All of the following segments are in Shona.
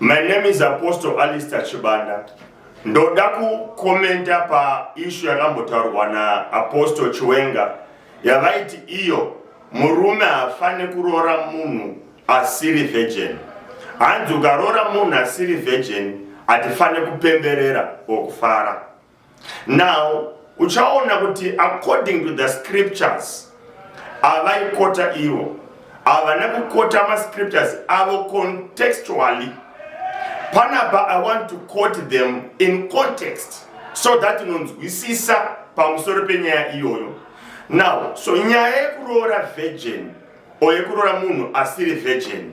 My name is Apostle Alistair Chibanda. Ndoda kukomenta pa ishu yakambotaurwa na Apostle Chiwenga yavaiti iyo murume hafane kuroora munhu asiri virgin. Hanzi ukaroora munhu asiri virgin hatifane kupemberera or kufara. now uchaona kuti according to the scriptures avaikota ivo havana kukota mascriptures avo contextually panapa i want to quote them in context so that unonzwisisa pamusoro penyaya iyoyo now so nyaya yekuroora virgin or yekuroora munhu asiri virgin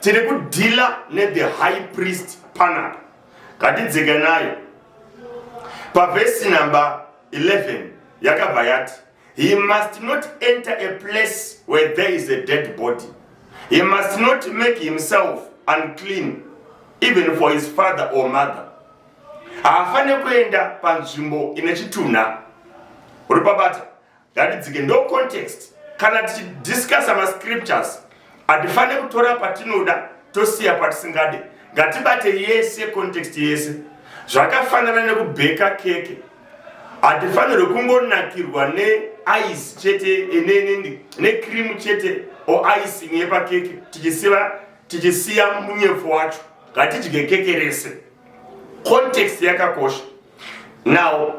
tiri kudhila nethe high priest panapa ngatidzike nayo pavhesi number 11 yakabva yati he must not enter a place where there is a dead body he must not make himself unclean even for his father or mother haafanire kuenda panzvimbo ine chitunha uri pabata ngatidzike ndo context kana tichidiscussa mascriptures hatifanire kutora patinoda tosiya patisingade ngatibate yese context yese zvakafanana nekubheka keke hatifanirwe kungonakirwa neice chete necream chete o icing yepakeke tichisiva tichisiya munyepfu wacho ngatidye keke rese context yakakosha Now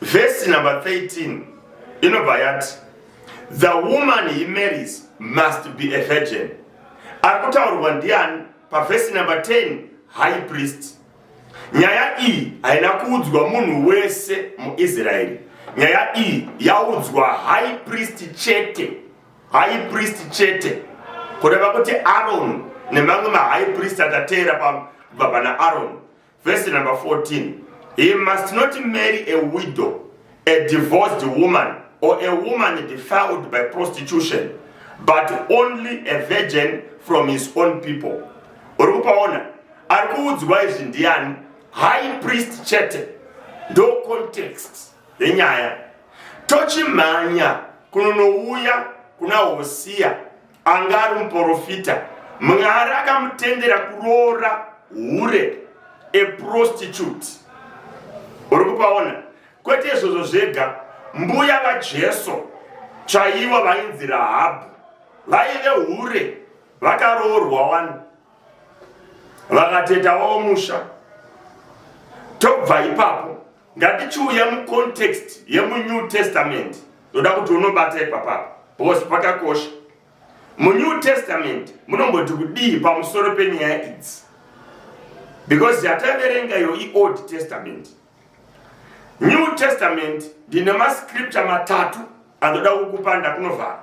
verse number 13 inobva yati the woman he marries must be a virgin. Ari kutaurwa ndiani? Pavhesi number 10 high priest. Nyaya iyi haina kuudzwa munhu wese muIsraeri. Nyaya iyi yaudzwa high priest chete, high priest chete, kureva kuti Aaron nemamwe mahigh priest akateera kubva pana Aaron Verse number 14 He must not marry a widow, a divorced woman, or a woman defiled by prostitution, but only a virgin from his own people. Uri kupaona ari kuudzwa izvi ndiani? High priest chete ndo context yenyaya tochimhanya kunonouya kuna hosiya anga ari muporofita mwari akamutendera kuroora hure eprostitute uri kupaona kwete izvozvo zvega mbuya vajesu chaivo vainzi rahabhu vaive hure vakaroorwa wani vakatetawo musha tobva ipapo ngatichiuya mucontext yemunew testament ndoda kuti unobata ipapapa because pakakosha munew testament munomboti kudii pamusoro penyaya idzi because yataverenga iyo iold testament new testament ndine mascripture matatu andoda kukupa ndakunovhara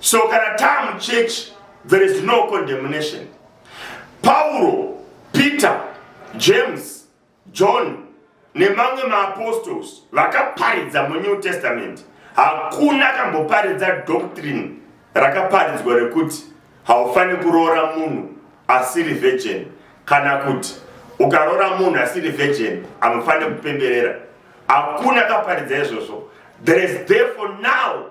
so kana taa muchechi there is no condemnation pauro peter james john nemamwe maapostols vakaparidza munew testament hakuna kamboparidza doctrine rakaparidzwa rekuti haufaniri kuroora munhu asiri virgin kana kuti ukaroora munhu asiri virgin amufanire kupemberera hakuna kaparidza izvozvo there is therefore now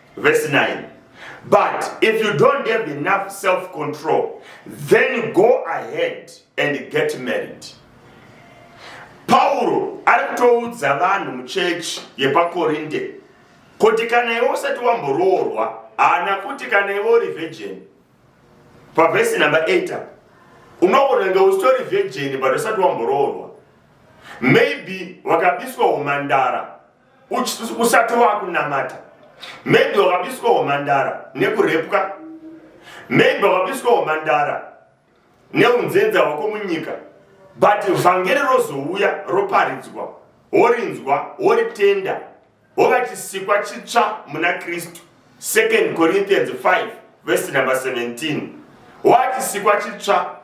Verse 9. But if you don't have enough self control, then go ahead and get married. Pauro ari kutoudza vanhu muchechi yepaKorinde kuti kana iwe usati wamboroorwa haana kuti kana iwe uri virgin pavhesi number 8 apa unogona kunge usitori virgin but usati wamboroorwa maybe wakabiswa umandara usati wakunamata maybe wakabiswa humandara nekurepwa maybe wakabiswa humandara neunzenza hwako munyika but vhangeri rozouya roparidzwa worinzwa woritenda wova chisikwa chitsva muna kristu 2 corinthians 5 vhesi number 17 wachisikwa chitsva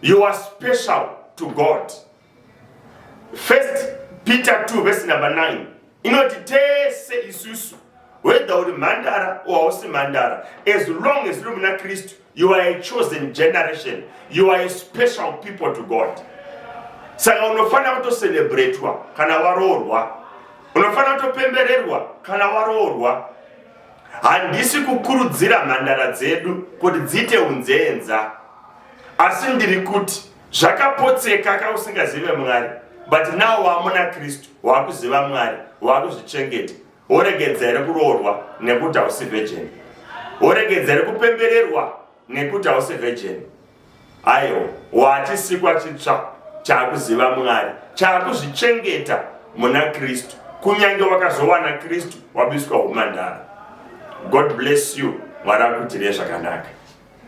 You are special to God. First Peter 2 verse number 9 inoti tese isusu whether uri mhandara or hausi mhandara as long as uri muna kristu you are a chosen generation you are a special people to god saka unofanira kutocelebratwa kana waroorwa unofanira kutopembererwa kana waroorwa Handisi kukurudzira mhandara dzedu kuti dziite unzenza, asi ndiri kuti zvakapotseka ka usingazive Mwari, but now wamuna Kristu, wakuziva Mwari, wakuzvichengeta, woregedza here kuroorwa nekuti hausi virgin? Woregedza here kupembererwa nekuti hausi virgin aiwa watisikwa chitsva chaakuziva mwari chaakuzvichengeta muna kristu kunyange wakazowana kristu wabiswa umandara god bless you mwari akutirei zvakanaka